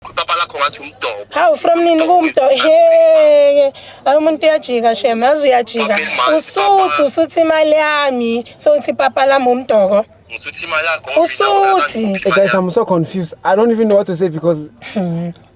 Papa lakho ngathi umdobo. Hawu from nini kumdo he ayi umuntu uyajika shem nazi uyajika usuthi usuthi imali yami sothi papa lami umdoko ngisuthi imali yakho usuthi hey guys i'm so confused i don't even know what to say because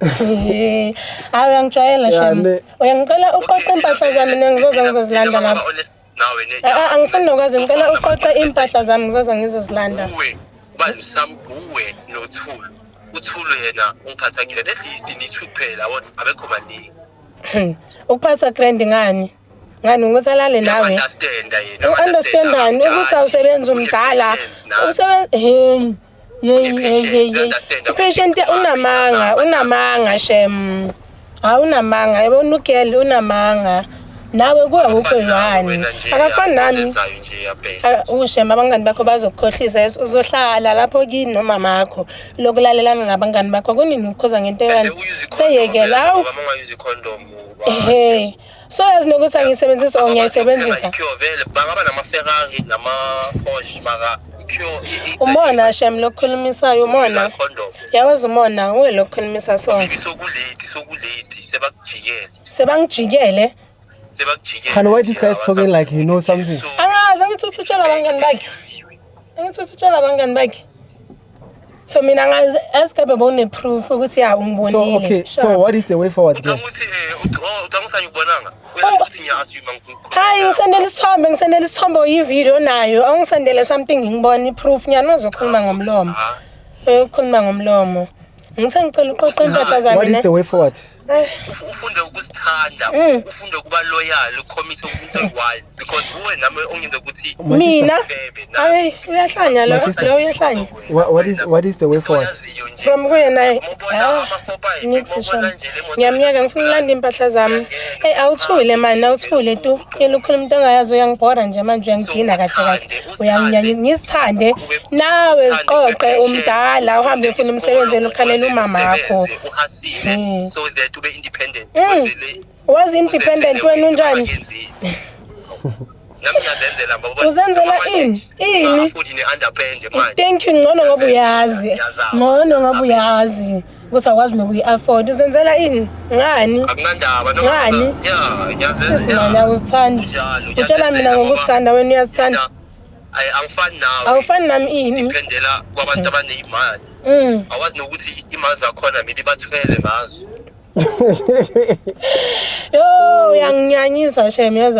eh awu uyangijwayela shem uyangicela uqoqe impahla zami nengizoze ngizozilanda lapho nawe ne Ah, ah, angifuni nokwazi ngicela uqoqe impahla zami ngizoze ngizozilanda uwe ubani sam uwe nothulu uthulu yena ungiphatha kile at least nithu kuphela wona abekho baningi Hmm. ukuphatha grand ngani ngani ukuthi alale nawe Uyaunderstanda yena, u-understandani uyaunderstanda ukuthi awusebenzi abadala. umdala Unesense nawe. usebenzi Yeyi yeyi yeyi yeyi. Patient unamanga, unamanga shem. Ha unamanga, yebo unugel unamanga. Nawe kuwe akukho yani. Akafani nami. Aka- Ushem abangani bakho bazokukhohlisa yes, uzohlala lapho kini nomama wakho. Lokulalelana nabangani bakho kunini ukukhoza ngento ekanti. Seyekela awu. Ehe. so yazi nokuthi angiyisebenzisi or ngiyayisebenzisa bangaba namaferrari nama-posh maka umona shem lokukhulumisayo umona yawazi umona uwe lokukhulumisa so sokuledi sokuledi sebakujikele sebangijikele sebakujikele khani why this guy is talking like he knows something angazi angithi uthi utshela abangani bakhe angithi uthi utshela abangani bakhe so mina ngazi asikabe bone proof ukuthi ya umbonile so okay so what is the way forward then ukuthi eh ucanga usanye ubonanga hayi ngisendele isithombe ngisendele isithombe uyivideo nayo awungisendele something ngibone iproof nyana uzokhuluma ngomlomo uyokhuluma ngomlomo ngithe ngicela uqoqa impahla zami what is the way forward ufunde ukusithanda mm. ufunde ukuba loyal ucommit umuntu oyi-one because kuwe nami ongenza ukuthi mina ayi uyahlanya lo lo uyahlanya what is what is the way forward from kuyena eh, ah, ngiyakuzishona ngiyamyeka ngifuna ulanda impahla zami eyi awuthule mani awuthule tu yena ukhuluma into ongayazi uyangibhora nje manje uyangidina kahle kahle uyanginyanya ngisithande nawe ziqoqe umdala uhambe ufuna umsebenzi elukhalela umama wakho sile mm. so that ube independent mm. was independent wena unjani nami ngiyazenzela ngoba uzenzela ini ini futhi ne underpand manje thank you ngcono ngoba uyazi ngcono ngoba uyazi ukuthi akwazi nokuyi afford uzenzela ini ngani akunandaba no ngani yeah ngiyazenzela sisi mama uzithanda utshela mina ngokusithanda wena uyazithanda angifani nawe awufani nami ini ngiphendela kwabantu abanezimali Mm. awazi nokuthi imanzi akhona mina ibathwele ngazo Yo, uyanginyanyisa shem yazi